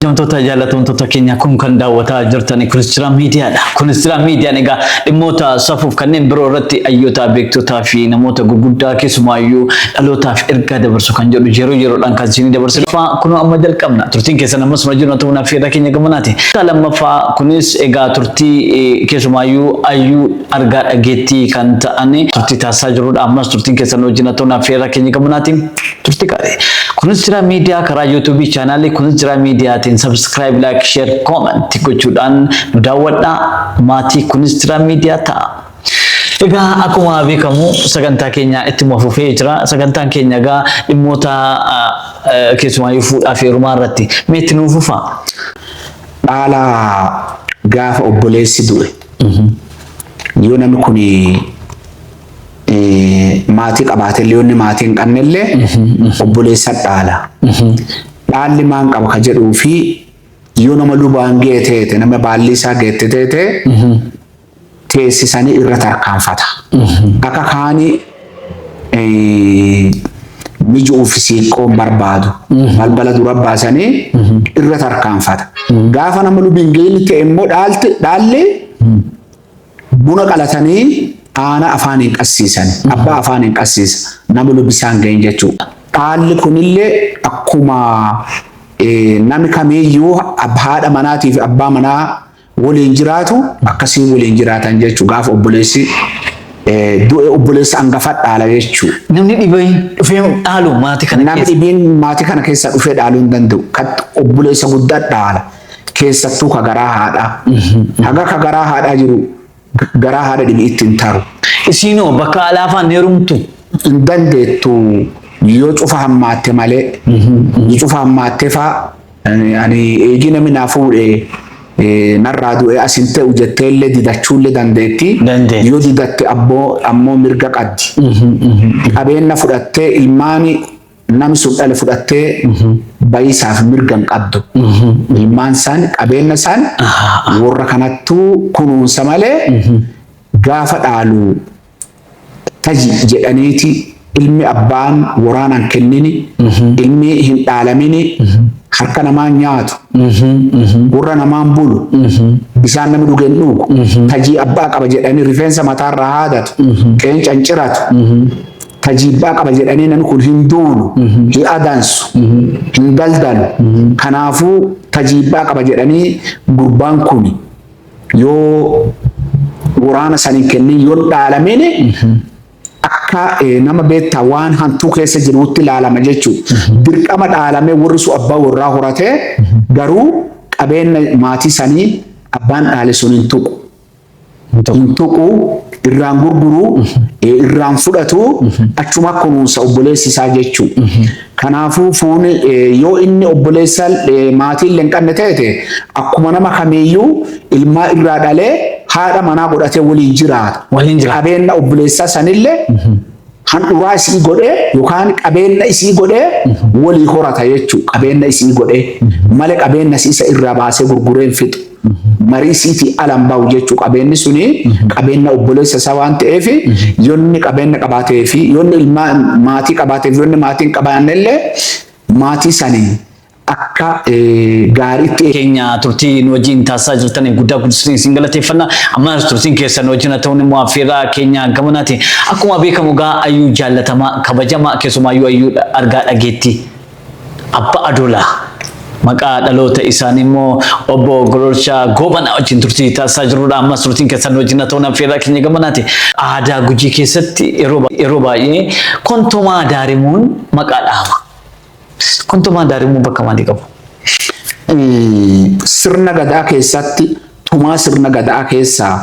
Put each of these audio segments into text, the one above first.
Kabajamtoota jaallatamtoota keenya kun kan daawwataa jirtan Kiristiraa Miidiyaadha. Kiristiraa Miidiyaan egaa dhimmoota safuuf kanneen biroo irratti hayyoota beektotaa fi namoota gurguddaa keessumaayyuu dhalootaaf ergaa dabarsu kan jedhu yeroo yeroodhaan kan isinii dabarsinu. Faa kunoo amma jalqabna. Turtiin keessan ammas nu wajjin ta'uun affeerraa keenya gamanaati. Kutaa lammaffaa kunis egaa turtii eh, keessumaayyuu hayyuu argaa dhageettii kan ta'an turtii taasisaa jirudha. Ammas turtiin keessan nu wajjin ta'uun affeerraa keenya gamanaati. Turtii gaarii. Kunis jira miidiyaa karaa YouTube chaanaalii kunis jira miidiyaatiin subscribe, like, share, comment gochuudhaan nu daawwadhaa. Maatii kunis jira miidiyaa ta'a. Egaa akkuma beekamu sagantaa keenya ittuma fufee jira. Sagantaan keenya egaa dhimmoota keessumaayyuu fuudhaa fi heerumaa irratti mee itti nuu fufaa. Dhaala gaafa obboleessi du'e yoo namni kun maatii qabaatellee yoonni maatii hin qabnellee obboleessa dhaala. Dhaalli maan qaba ka jedhuu fi yoo nama lubaan ga'e teete nama baallii isaa geette teete teessisanii irra tarkaanfata. Akka kaani miju uffisiiqqoon barbaadu balbala dura baasanii irra tarkaanfata. Gaafa nama lubiin ga'in ta'e immoo dhaalti dhaalli Buna qalatanii aana afaaniin qassiisan. Abbaa afaaniin qassiisa. Nama lubbi isaan gahin jechuudha. Dhaalli kunillee akkuma nami kamiiyyuu haadha manaatii fi abbaa manaa waliin jiraatu akkasiin waliin jiraatan jechuu gaafa obboleessi du'e obboleessa angafa dhaala jechuu. Namni dhibeen dhufee dhaalu maatii kana keessa. Namni dhibiin maatii kana keessa dhufee dhaaluu hin danda'u. Obboleessa guddaa dhaala. keessattuu ka garaa haadhaa. Haga ka garaa haadhaa jiru garaa haadha dhibi'itti hin taaru. Isiinoo bakka alaafaan ni herumtu. Hin dandeettu yoo cufa hammaatte malee. Yoo cufa hammaatte faa ani eegii namni naa fuudhe eh, narraa du'e as hin ta'u jettee illee didachuu illee dandeetti. Dandeetti. Yoo didatte abboo ammoo mirga qabdi. Qabeenya fudhattee ilmaani Namni sun dhala fudhattee bayisaaf mirga hin qabdu. Ilmaan isaan qabeenna isaan warra kanattuu kunuunsa malee gaafa dhaalu taji jedhaniiti ilmi abbaan waraanaan kennini ilmi hin dhaalamini harka namaan nyaatu gurra namaan bulu bisaan namni dhuge hin dhugu tajii abbaa qaba jedhanii rifeensa mataarraa haadatu qeenca hin ciratu ta jibbaa qaba jedhanii namni kun hin doonu, hin adaansu, hin daldalu. Kanaafuu ta jibbaa qaba jedhanii gurbaan kun yoo waraana san hin kennin yoo dhaalameen akka eh, nama beektaa waan hantuu keessa jiruutti ilaalama jechuudha. Dirqama dhaalame warri sun abbaa warraa horatee garuu qabeenya maatii sanii abbaan dhaale sun hin tuqu. hin tuqu, irraan gurguru, irraan fudhatu, achuma kunuunsa obboleessi isaa jechuu. Kanaafuu fuuni yoo inni obboleessa maatii illee hin qabne ta'e akkuma nama kamiiyyuu ilmaa irraa dhalee haadha manaa godhatee waliin jiraata. Waliin jiraata. Qabeenna obboleessaa sanillee handhuraa isii godhee yookaan qabeenna isii godhee walii horata jechuu qabeenna isii godhee male qabeenna isii isa irraa baasee gurgureen fixu marii isiitii alan bahu jechuu qabeenni suni qabeenna obboleessa isaa waan ta'eef yonni qabeenna qabaatee fi yonni ilmaa maatii qabaateef yonni maatiin qabaanne illee maatii sanii akka gaariitti keenya turtii nu wajjin taasisaa jirtaniif guddaa guddisanii isin galateeffanna. Ammas turtiin keessan nu wajjin haa ta'uun immoo affeerraa keenya gamanaati. Akkuma beekamu gaa ayyuu jaallatamaa kabajamaa keessumaayyuu ayyuu argaa dhageetti abba adoolaa. Maqaa dhaloota isaanii immoo obbo Gololchaa Goobanaa wajjin turtii taasisaa jirudha. Ammas turtiin keessan nu wajjin haa ta'uun affeerraa keenya gamanaati. Aadaa gujii keessatti yeroo baay'ee kontomaa daarimuun maqaa dhahama. Kontomaan daarimmoo bakka maalii qabu? Sirna gadaa keessatti tumaa sirna gadaa keessaa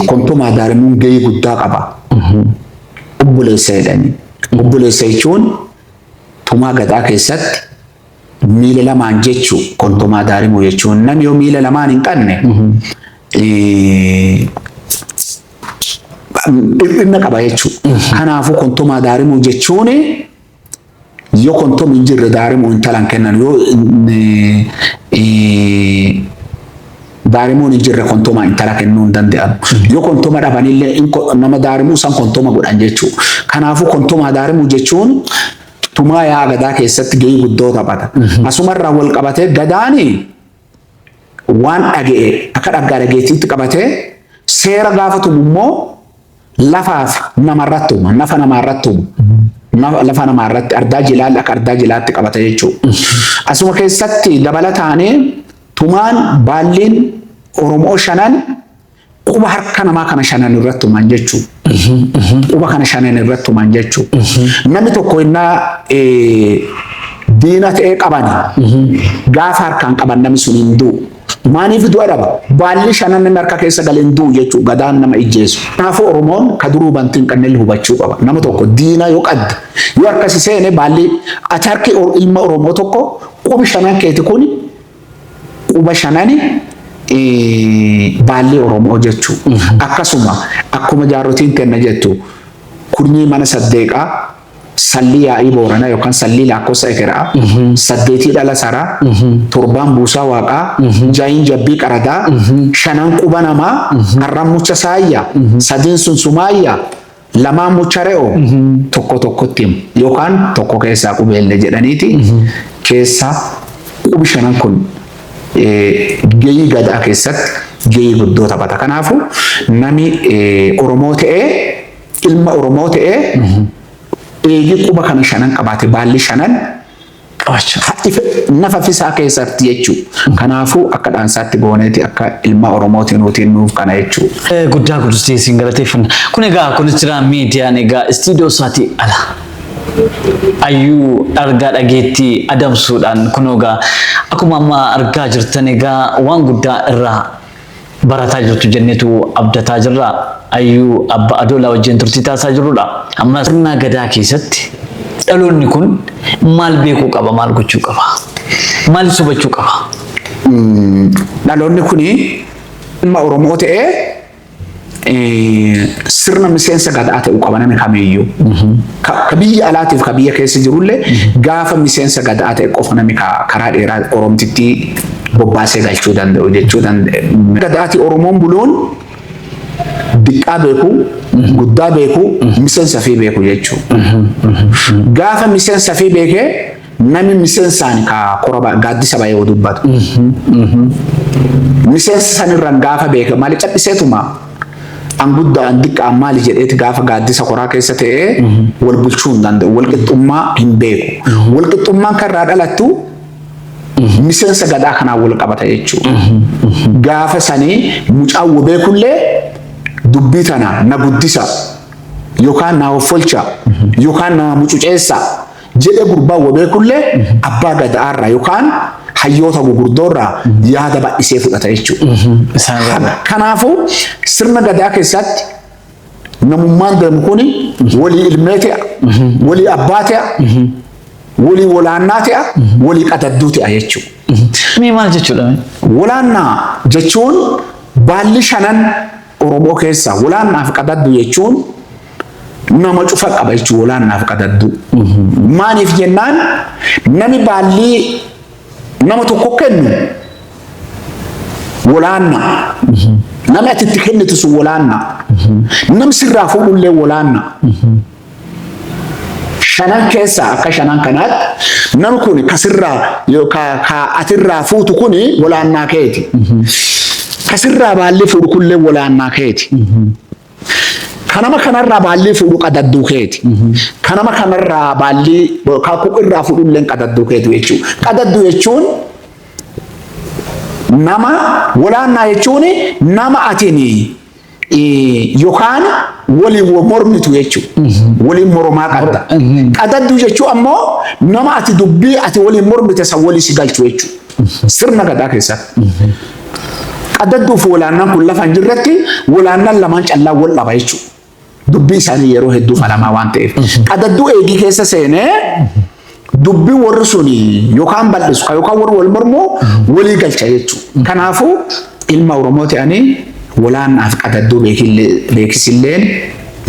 kontomaa daarimuun gahee guddaa qaba. Obboleessa jedhanii. Obboleessa jechuun tumaa gadaa keessatti miila lamaan jechuu kontomaa daarimuu jechuun namni yoo miila lamaan hin qabne dhiphinna qaba jechuudha. Kanaafuu kontomaa daarimuu jechuun Yoo kontom hin jirre daarimo intalan kennan yoo daarimoon hin jirre kontoma intala kennuu hin danda'an. Yoo kontoma dhabanillee nama daarimuu san kontoma godhan jechuudha. Kanaafuu kontomaa daarimuu jechuun tumaa yaa gadaa keessatti gahee guddoo taphata. Asumarraa wal qabatee gadaani waan dhaga'e akka dhaggaa dhageettiitti qabatee seera gaafa tumu immoo lafaaf namarratti uuma. Nafa namaarratti uuma. Nafa- Lafa namaarratti ardaa jilaalli akka ardaa jilaatti qabata jechuudha. Asuma keessatti dabalataanee tumaan baalliin Oromoo shanan Quba harka namaa kana shanan irratti tuman jechuu. Quba kana shanan irratti tuman jechuu. Namni tokko innaa eh, diina ta'ee qabani. Gaafa harkaan qaban namni sun hin du'u. Maaliif du'a dhaba? Baalli shanan inni harka keessa galee hin du'u jechuu gadaan nama ijjeesu. Kanaafuu Oromoon ka duruu bantii hin qabne illee hubachuu qaba. Nama tokko diina yoo qadda yoo harkasi seene baalli ati harki ilma Oromoo tokko qubi shanan keeti kuni Quba shanani baallee Oromoo jechuu. Akkasuma akkuma jaarrotiin tenna jettu kurnyii mana saddeeqaa sallii yaa'ii booranaa yookaan sallii laakkossa ekeraa saddeetii dhala saraa torbaan buusaa waaqaa jaayin jabbii qaradaa shanan quba namaa arran mucha saayya sadiin sun sumaayya Lamaan mucha re'oo tokko tokkotti himu yookaan tokko keessaa qubeellee jedhaniiti keessaa qubi shanan kun gahii gadaa keessatti gahii guddoo taphata. Kanaafu nami Oromoo ta'ee ilma Oromoo ta'ee eegii quba kana shanan qabaate baalli shanan qabachu. Hadhi nafa fisaa keesati jechu kanafu akka dhansati goneti akka ilma oromoti nuti nuf kana jechu. Guddaa gudustee siin galateeffanna. Kun egaa Konistiraa Miidiyaan egaa istiidiyoo isaatii ala ayyuu argaa dhageettii adamsuudhaan kunoo egaa akkuma amma argaa jirtan egaa waan guddaa irraa barataa jirtu jennetu abdataa jirra. Ayyuu Abba Adoolaa wajjin turtii taasisaa jirrudha. Ammas sirnaa gadaa keessatti dhaloonni kun maal beekuu qaba, maal gochuu qaba, maal subachuu qaba? Dhaloonni kun ilma Oromoo ta'ee sirna miseensa gadaa ta'uu qaba namni kamiyyuu. ka ka biyya alaatiif ka biyya keessa jirullee gaafa miseensa gadaa ta'e qofa namni ka karaa dheeraa Oromtitti bobbaasee galchuu danda'u jechuu danda'e. Gadaati Oromoon buloon diqqaa beeku, guddaa beeku, miseensa fi beeku jechuu. Gaafa miseensa fi beekee Nami misensaan ka kora ba- gaaddisa ba'ee yoo dubbatu. Miseensa sanirraan gaafa beeka maali cadhiseetuma an guddaa an diqqa an maali jedheeti gaafa gaaddisa koraa keessa ta'ee wal bulchuu hin danda'u. Wal qixxummaa hin beeku. Wal qixxummaan kan irraa dhalattu miseensa gadaa kanaan wal qabata jechuudha. Gaafa sanii mucaan wal beekullee dubbii tana na guddisa yookaan na hoffolcha yookaan na mucuceessa jedhe gurbaan wabeekullee abbaa gadaarraa yookaan hayyoota gugurdoorraa yaada bal'isee fudhata jechuudha. Kanaafuu sirna gadaa keessatti namummaan deemu kun walii ilmee ta'a, walii abbaa ta'a, walii walaannaa ta'a, walii qadadduu ta'a jechuudha. Mee maal jechuudha? Walaannaa jechuun baalli shanan Oromoo keessaa wolaan naaf qadaddu jechuun nama cufa qaba jechuun wolaan naaf qadaddu. Maaliif jennaan nami baallii nama tokko kennu wolaanna. Nami ati itti kennitu sun wolaanna. Nam sirraa fuudhullee wolaanna. shanan keessaa akka shanan kanaatti nam kun kasirraa yookaan kaa atirraa fuutu kun walaannaa keeti. Kasirraa baallii fuudhu kunillee walaannaa keeti. Kanama kanarraa baallii fuudhu qadadduu keeti. Kanama kanarraa baallii yookaan kuqirraa fuudhullee qadadduu keeti jechuudha. Qadadduu jechuun nama walaannaa jechuun nama atini Yokaan waliin wal mormitu jechuudha. Waliin mormaa qabda. Qadadduu jechuun ammoo nama ati dubbii ati waliin mormite san walii si galchu jechuudha. Sirna gadaa keessatti. Qadadduuf walaannaan kun lafa hin jirretti walaannaan lamaan callaa wal dhaba jechuudha. dubbii isaanii yeroo hedduu falamaa waan ta'eef qadadduu eegii keessa seenee dubbii warri suni yookaan bal'isu kan yookaan warri wal mormuu walii galcha jechuudha. Kanaafuu ilma Oromoo ta'anii walaannaaf qadadduu beekisilleen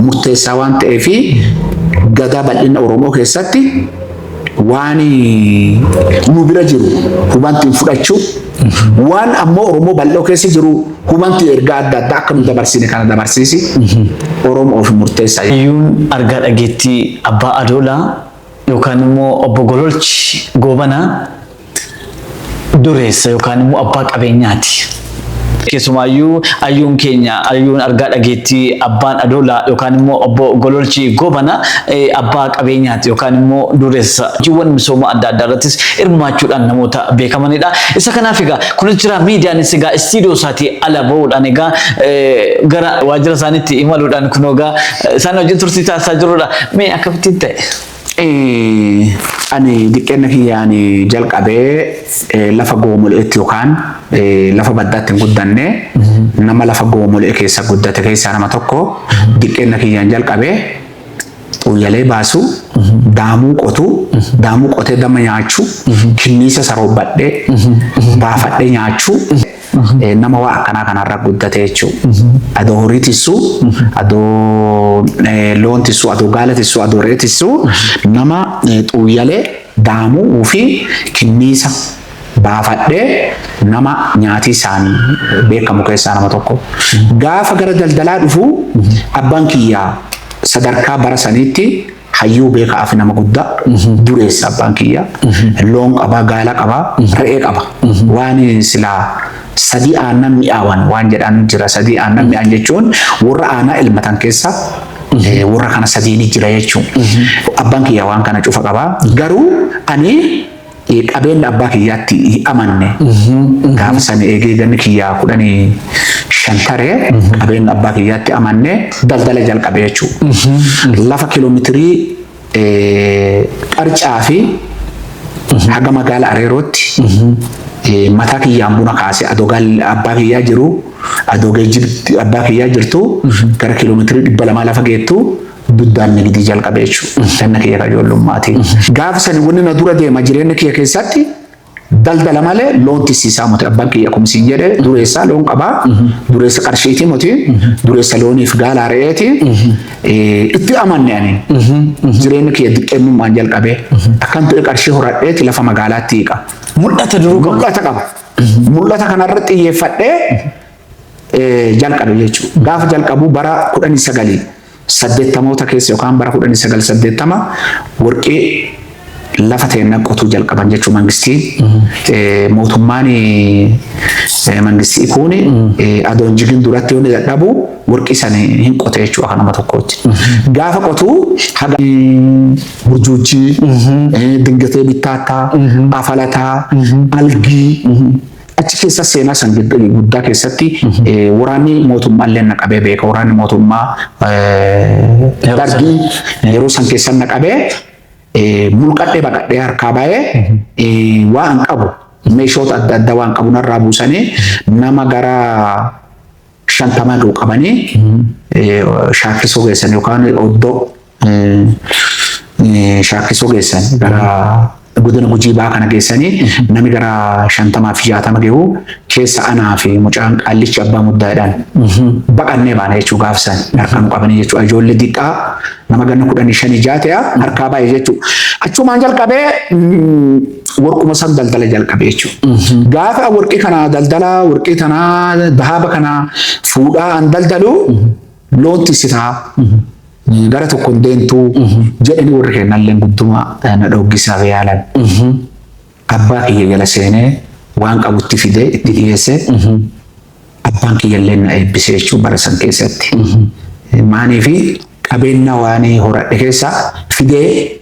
murteessaa waan ta'eef gadaa bal'ina Oromoo keessatti waan nu bira jiru hubantiin fudhachuu waan ammoo Oromoo bal'oo keessa jiru hubantii ergaa adda addaa akka nu dabarsine kana dabarsiisi Oromoo ofi murteessa. Hayyuun argaa dhageettii Abbaa Adoolaa yookaan immoo obbo Gololchi Goobanaa dureessa yookaan immoo abbaa qabeenyaati. Keessumaayyuu ayyuun keenya ayyuun argaa dhageettii abbaan adoolaa yookaan immoo obbo Gololchi Goobana abbaa qabeenyaati yookaan immoo dureessa hojiiwwan misooma adda addaa irrattis hirmaachuudhaan namoota beekamanidha. Isa kanaaf egaa kunis jira miidiyaanis egaa istiidiyoo isaatii ala bahuudhaan egaa gara waajjira isaaniitti imaluudhaan kunoo egaa isaan wajjin turtii taasisaa jirudha. Mee akkamittiin ta'e? Ani diqqeenna kiyyaan jalqabee lafa goomole'etti yookaan lafa baddaatti hin guddanne nama lafa goomole'e keessa guddate keessaa nama tokko diqqeenna kiyyaan jalqabee xuuyyalee baasu daamuu qotu daamuu qotee dama nyaachu kinniisa saroobbadhee baafadhee nyaachu Eh, nama waa akkanaa kanarra guddate jechuu adoo horii tissu adoo eh, loon tissu adoo gaala tissu adoo re'ee tissu nama eh, xuuyyalee daamuu fi kinniisa baafadhee nama nyaatii isaanii beekamu keessaa nama tokko gaafa gara daldalaa dhufu abbaan kiyyaa sadarkaa bara saniitti Hayyuu beeka afi nama gudda dureessa abbaan kiyya loon qaba gaala qaba re'ee qaba waan sila sadii aannan mi'aawan waan jedhaan jira sadii aannan mi'aan jechuun warra aanaa ilmatan keessa warra kana sadiini jira jechuun abbaan kiyya waan kana cufa qaba garuu ani Qabeenya abbaa kiyyaatti hin amanne. Gaafa sani eegee ganni kiyyaa kudhanii shan tare qabeenya abbaa kiyyaatti amanne daldala jalqabe jechuudha. Lafa kiloomitirii qarcaa fi haga magaala areerootti mataa kiyyaan buna kaase adoo abbaa kiyyaa jiru adoo geejjibni abbaa kiyyaa jirtu gara kiiloomeetirii dhibba lamaa lafa geettu Duddaan na gidii jalqabe jechuudha. Ganna kiyya kan ijoollummaatii. Gaafa sani wanni na dura deema jireenya kiyya keessatti daldala malee loon tisiisaa moti abbaan kiyya akkuma siin jedhe dureessaa loon qabaa dureessa qarshiitii moti dureessa looniif gaalaa re'eeti itti amanne ani jireenya kiyya diqqeennummaan jalqabee akkan ture qarshii horadheeti lafa magaalaatti hiiqa. Mul'ata duruu qaba. Mul'ata qaba. Mul'ata kanarratti xiyyeeffadhee jalqabe jechuudha. Gaafa jalqabu bara 1980moota keessa yookaan bara 1980 warqee lafa teenna qotuu jalqaban jechuu mangistii mootummaan mangistii kuuni adoon jigin duratti yoo dadhabu warqii san hin qote jechuu akka nama tokkootti. Gaafa qotu haga burjuujjii dingatee bittaattaa afalataa algii Achi keessa seenaa san guddaa keessatti waraanni mootummaa illee na qabee beeka. Waraanni mootummaa dargii yeroo san keessa na qabee mulqadhee baqadhee harkaa baay'ee waan qabu meeshoota adda addaa waan qabu narraa buusanii nama gara shantamaa ga'u qabanii eh, shaakkisoo geessan yookaan oddoo eh, eh, shaakkisoo geessan gara godina gujii baa kana geessanii namni gara shantamaa fi jaatama ga'u keessa anaa fi mucaan qaallichi abbaa muddaadhaan baqannee baana jechuu gaafsan harkaan qabanii jechuudha ijoollee diqqaa Nama ganna kudhanii shanii jaha ta'e harkaa baay'ee jechuudha. Achumaan jalqabee warquma san daldala jalqabe jechuudha. Gaafa warqii kana daldala warqii tanaa dahaaba kana fuudhaa an daldalu loon tiksitaa gara tokkoon deemtuu jedhanii warri kennalleen gudduma na dhooggisaaf yaalan. Abbaa kiyya jala seenee waan qabutti fidee itti dhiyeesse abbaan kiyya illee na eebbise jechuun bara san keessatti. Maanii fi qabeenya waan horadhe keessaa fidee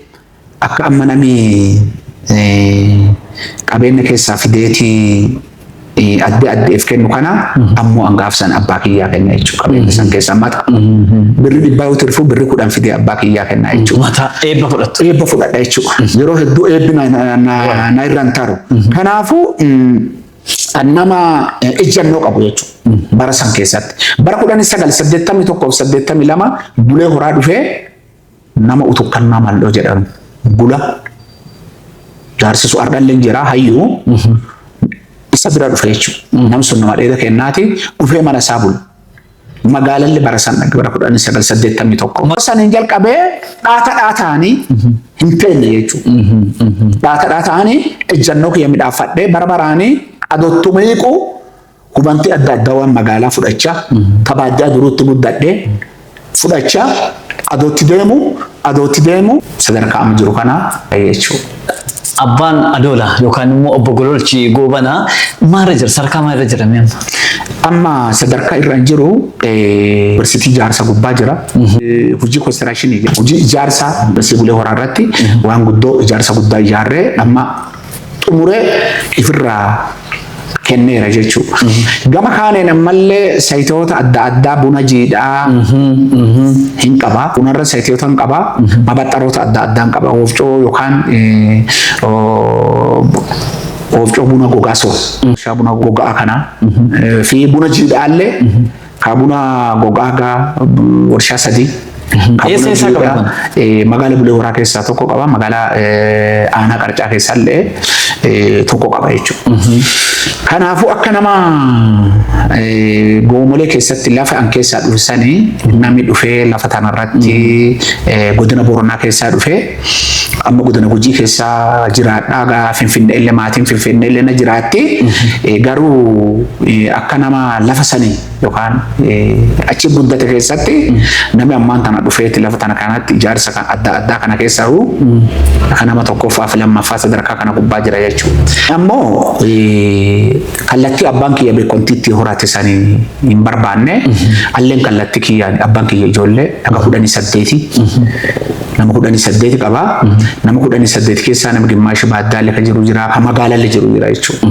akka amma namni qabeenya keessaa fideetii adda addeef kennu kana ammoo angaaf san abbaa kiyyaa kenna jechuu qabeenya san keessa mata birri dhibbaa yoo tirfuu birri kudhan fidee abbaa kiyyaa kenna jechuu Mata eebba fudhattu. eebba fudhadha jechuudha. Yeroo hedduu eebbi na- na- na- na irra hin taru. Kanaafuu mm, nama eh, ejjennoo qabu jechuudha. Bara san keessatti. Bara kudhan sagal saddeettamii tokkoof saddeettamii lama bulee horaa dhufee Nama utukkannaa maldhoo jedhan bula jaarsisu ardhallee jira hayyuu isa bira dhufe jechuudha. Namni sun nama dheeda kennaati dhufee mana isaa bula. Magaalalli bara san dhaqe bara kudhan sagal saddeettamii tokko. Bara saniin jalqabee dhaata dhaataanii hin teenye jechuudha. Dhaata dhaataanii ejjannoo kiyya midhaaffadhee bara baraanii adottu miiquu Hubanti adda addaa waan magaalaa fudhachaa tapha addaa duruutti guddadhee fudhachaa adootti deemu adootti deemu sadarkaa amma jiru kana jechuudha. Abbaan Adoola yookaan immoo obbo Gololchi Goobanaa maalirra jira? Sadarkaa maalirra jira mee amma? Amma sadarkaa irra hin jiru yuunivarsiitii ijaarsa gubbaa jira. Hojii koostiraashinii hojii ijaarsa dasee bulee horaa irratti waan guddoo ijaarsa guddaa ijaarree amma xumuree ifirraa kenneera jechuudha. Gama kaaneen ammallee sayitoota adda addaa buna jiidhaa hin qaba. Bunarra sayitoota hin qaba. Mabaxxaroota adda addaa hin qaba. Oofcoo yookaan oofcoo buna gogaa sun. Meeshaa buna gogaa kana fi buna jiidhaallee Kaa buna gogaa gaa warshaa sadii. Kaa Eessa buna eessaa jiidhaa, qabatan? eh, magaala Bulee Horaa keessaa tokko qaba. Magaalaa eh, aanaa qarcaa keessaa illee eh, tokko qaba jechuudha. Kanaafuu akka nama eh, goomolee keessatti lafa an keessaa dhufsanii namni dhufee lafa tanarratti eh, godina Booranaa keessaa dhufee amma godina gujii keessa jiraadhaa gaa finfinnee illee maatiin finfinnee illee na jiraatti Eh, garuu eh, akka nama lafa sanii yookaan eh, achi guddate keessatti namni ammaan tana dhufeeti lafa tana kanatti ijaarsa kan adda addaa kana keessa huu akka nama tokkoffaa fi lammaffaa sadarkaa kana gubbaa jira jechuudha. Ammoo eh, kallattii abbaan kiyya beekontiitti horate sanii hin barbaanne alleen kallattii kiyyaan abbaan kiyya ijoollee dhaga kudhanii saddeeti Nama kudhanii saddeeti qaba. Nama kudhanii saddeet keessaa nama gimmaashi baaddaalle ka jiru jira, ka magaalalle jiru jira jechuudha.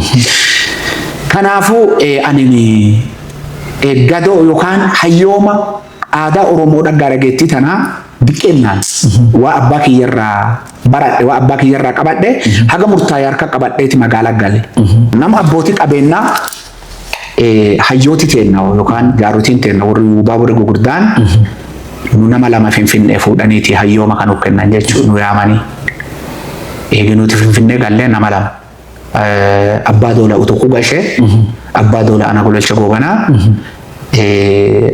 Kanaafuu eh, ani eh, gadoo yookaan hayyooma aadaa Oromoo dhaggaa dhageettii tanaa diqqennaan waa abbaa kiyyarraa baradhe, waa abbaa kiyyarraa qabadhe haga murtaa'e harka qabadheeti magaalaa gale. Nama abbootii qabeenyaa hayyooti teenna yookaan jaarotiin teenna warri yuubaa warri gugurdaan nu nama lama finfinnee fuudhaniiti hayyooma kan nuuf kennan jechuun nu yaamanii eegi nuti finfinnee gallee nama lama abbaa doola utuquu gashee abbaa doola ana gololcha goobanaa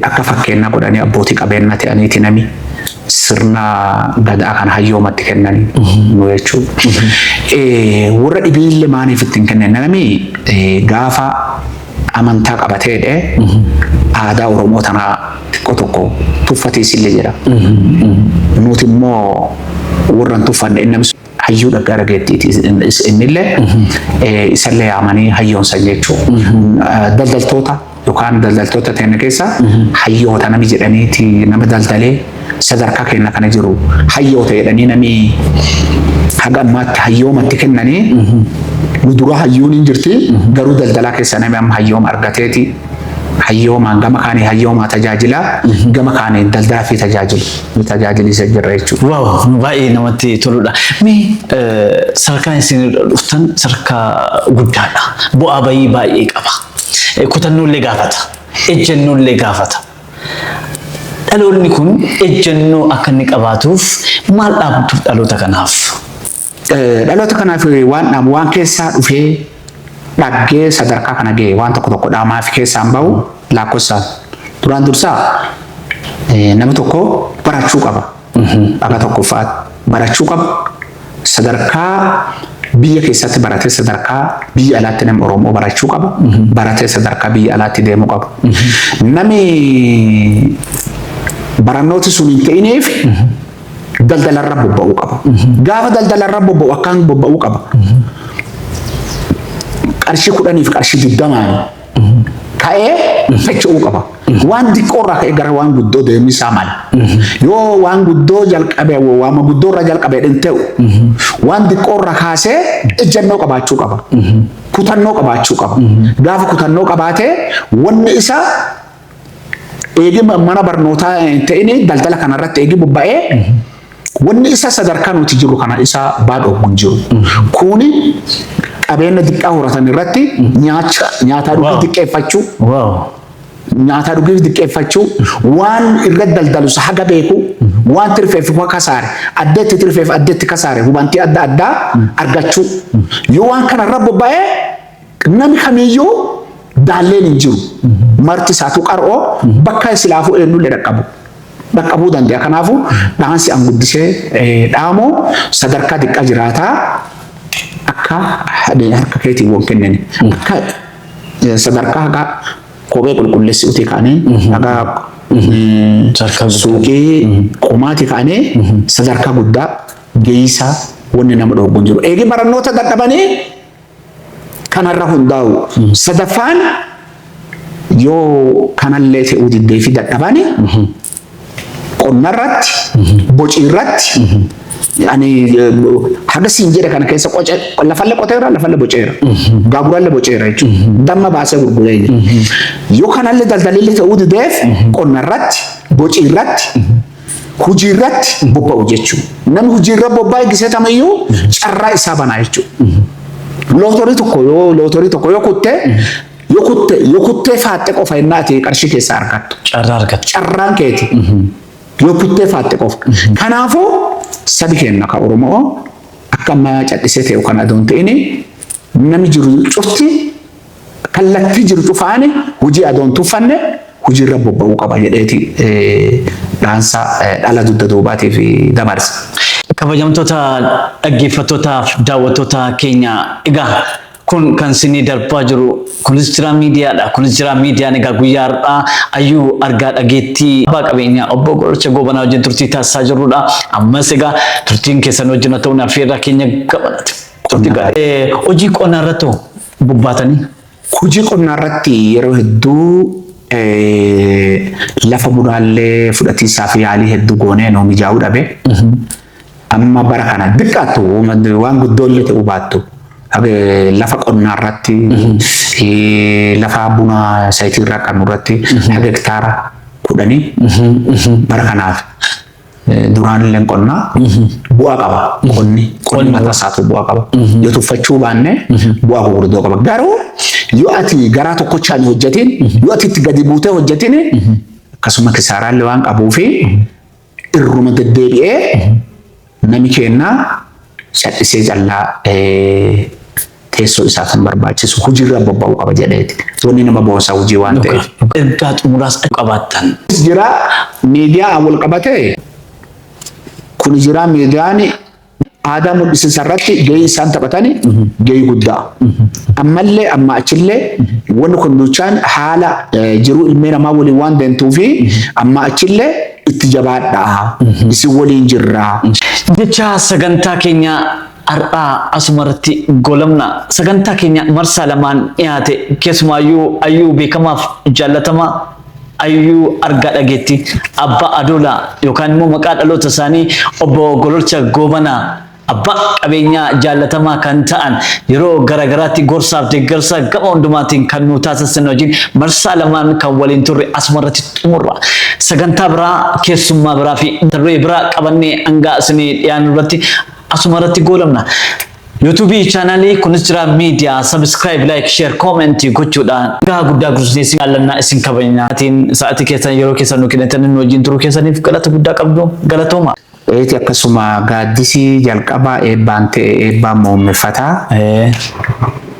Akka fakkeenna godhanii abbootii qabeenna te'aniiti nami sirna Gadaa kana hayyooma itti kennani nu jechuu. Worra dhibiille maaniif itti hin kennine? Nami gaafa amantaa qabatee dhe aadaa Oromoo tanaa xiqqoo tokko tuffatiisille jira. Nuti immoo worra hin tuffanne. hayyuu dhaggaa dhageettiiti innillee isallee yaamanii hayyoon san jechuu daldaltoota yookaan daldaltoota teenne keessa hayyoota nami jedhaniiti nama daldalee sadarkaa keenya kana jiru hayyoota jedhanii nami haga ammaatti hayyoomatti kennanii nu dura hayyuun hin jirti garuu daldalaa keessa nami amma hayyooma argateeti hayyoomaan gama kaanii hayyoomaa tajaajilaa gama kaanii daldalaa fi tajaajilu nu tajaajilisa jirra jechuudha. Waaw nu baay'ee namatti toludha. Mee eh, sadarkaan isin irra dhuftan sadarkaa guddaadha. Bu'aa bayii baay'ee qaba. Eh, Kutannoollee gaafata. Ejjennoollee gaafata. Dhaloonni kun ejjennoo akka inni qabaatuuf maal dhaabduuf dhaloota kanaaf? Dhaloota kanaaf waan dhaamu waan keessaa dhufee dhaggee sadarkaa kana ga'e waan tokko tokko dhaamaa fi keessaan bahu laakkofsaan. Duraan dursaa nama tokko barachuu qaba. Dhagaa tokkoffaa barachuu qaba. Sadarkaa biyya keessatti baratee sadarkaa biyya alaatti nama Oromoo barachuu qaba. Baratee sadarkaa biyya alaatti deemuu qaba. Nami barannooti sun hin ta'ineef daldalarra bobba'uu qaba. Gaafa daldalarra bobba'u akkaan bobba'uu qaba. Qarshii kudhaniif qarshii digdamaan ka'ee socho'uu qaba. Waan xiqqoorraa ka'ee gara waan guddoo deemisaa mala. Yoo waan guddoo jalqabee waan guddoorraa jalqabee hin ta'u waan xiqqoorraa kaasee ejjennoo qabaachuu qaba. Kutannoo qabaachuu qaba. Gaafa kutannoo qabaatee wanni isaa eegii mana barnootaa hin ta'in daldala kana irratti eegii bobba'ee wanni isa sadarkaa nuti jiru kana isa baadhoo hin jiru. Kuuni qabeenya xiqqaa horatan irratti nyaacha nyaataa dhuguu Wow. xiqqeeffachuu Wow. nyaataa dhuguu xiqqeeffachuu waan irra daldalus haga beeku waan tirfeef waan kasaare addeetti tirfeef addeetti kasaare hubantii adda addaa argachuu yoo waan kana irra bobba'ee Nami kamiyyuu daalleen hin jiru. Marti isaatu qar'oo bakka silaafuu eenyullee dhaqqabu. Dhaqqabuu danda'a. Kanaafuu dhaansi an guddisee eh, dhaamu sadarkaa diqqaa jiraataa akka hadee harka keetiin wal kennani. Akka eh, sadarkaa hagaa kophee qulqulleessi utii kaanee hagaa eh, Sadarkaa guddaa. suuqii qomaati kaanee sadarkaa guddaa geessaa wanni nama dhooggu hin jiru. Eegi barannoota dadhabanii kanarra hundaa'u. Sadaffaan yoo kanallee fe'uu diddee fi dadhabani qonnarratti, bociirratti ani haga siin jedhe kana keessa qoce lafalle qoteera lafalle boceera gaaguralle boceera jechuudha damma baasee gurguree jira yoo kanallee daldalillee ta'uu dideef qonnarratti bociirratti Hujii irratti bobba'u jechuun namni hujii irra bobba'e gisee tamayyuu carraa isaa banaa jechuudha. Lootorii tokko yoo lootorii tokko yoo kutte yoo kutte yoo kuttee faaxxe qofa innaa ati qarshii keessaa argattu. Carraa argata. Carraan keeti yoo kuttee faaxxe qofa. Kanaafuu sabi keenya ka Oromoo akka ammaa cadhisee ta'e kan adoon ta'ini namni jiru cufti kallattii jiru cufaan hojii adoo hin tuffanne hojiirra bobba'uu qaba jedheeti dhaansa dhala dugda duubaatiif dabarse. Kabajamtoota dhaggeeffattootaaf daawwattoota keenya egaa kun kan sinii darbaa jiru kunis jiraa miidiyaadha. Kunis jiraa miidiyaan egaa guyyaa har'aa ayyuu argaa dhageettii abbaa qabeenyaa obbo Gorcha Goobanaa wajjin turtii taasisaa jirrudha. Ammas egaa turtiin keessan wajjin haa ta'uun affeerraa keenya gamanati. Turtii gaarii. Hojii qonnaa irratti hoo bobbaatanii hojii qonnaa irratti yeroo hedduu lafa mudaallee fudhatiinsaa fi yaalii hedduu goonee nuu mijaa'uu dhabe. Amma bara kana xiqqaattu waan guddoo illee ta'uu baattu lafa qonnaa irratti lafa buna sayitii irraa qabnu irratti haga hektaara kudhanii bara kanaaf duraanilleen qonnaa bu'aa qaba. Qonni qonni mataa isaatu bu'aa qaba. Yoo tuffachuu baanne bu'aa gurguddoo qaba. Garuu yoo ati garaa tokkochaan hin hojjetiin yoo ati itti gadi buutee hojjetiin akkasuma kisaaraallee waan qabuu fi irruma deddeebi'ee nami keennaa cadhisee callaa teessoo isaa kan barbaachisu hojiirra bobba'uu qaba jedheeti. Wanni nama boonsaa hojii waan ta'eef. Ergaa xumuraas akka qabaattan. Jira miidiyaa wal qabatee kun jira miidiyaan aadaa mul'isiinsa irratti gahee isaan taphatan gahee guddaa. Ammallee amma achillee wanni kun duuchaan haala jiruu ilmee namaa waliin waan deemtuu fi amma achillee itti jabaadhaa isin waliin jirraa. Jecha sagantaa keenyaa Har'aa asumarratti goolabna. Sagantaa keenya marsaa lamaan dhiyaate keessumaayyuu Ayyuu beekamaaf jaallatamaa Ayyuu Argaa Dhageetti Abbaa Adoolaa yookaan immoo maqaa dhaloota isaanii obbo Gololcha Goobanaa abbaa qabeenyaa jaallatamaa kan ta'an yeroo garaagaraatti gorsaaf deeggarsa gama hundumaatiin kan nu taasisan wajjin marsaa lamaan kan waliin turre asumarratti xumurra. Sagantaa biraa keessummaa biraa fi tarree biraa qabannee hangaa isinii dhiyaannu irratti asuma irratti goolabna. YouTube chaanaalii kunis jira miidiyaa subscribe like share comment gochuudhaan gahaa guddaa guddisnee isin jaallannaa isin kabajnaa. Atiin sa'atii keessan yeroo keessan nu kennitan nu wajjin turuu keessaniif galata guddaa qabdu galatooma. Eeti akkasuma gaaddisii jalqabaa eebbaan ta'e eebbaan muummeffataa. Eh.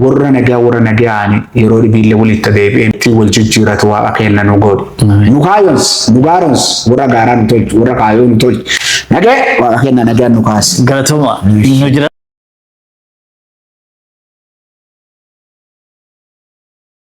Worra nagaa worra nagayaani yeroo d'ibiile woli ta deebie iti woljijiratu Waaqa keenna nu god'i. Nu kaayonsi, nu gaaromsi, worra gaara nu tolchi, worra kaayo nu tolchi. Nage Waaqa keenna nagayaan nu kaasi. Galatoma nu jira.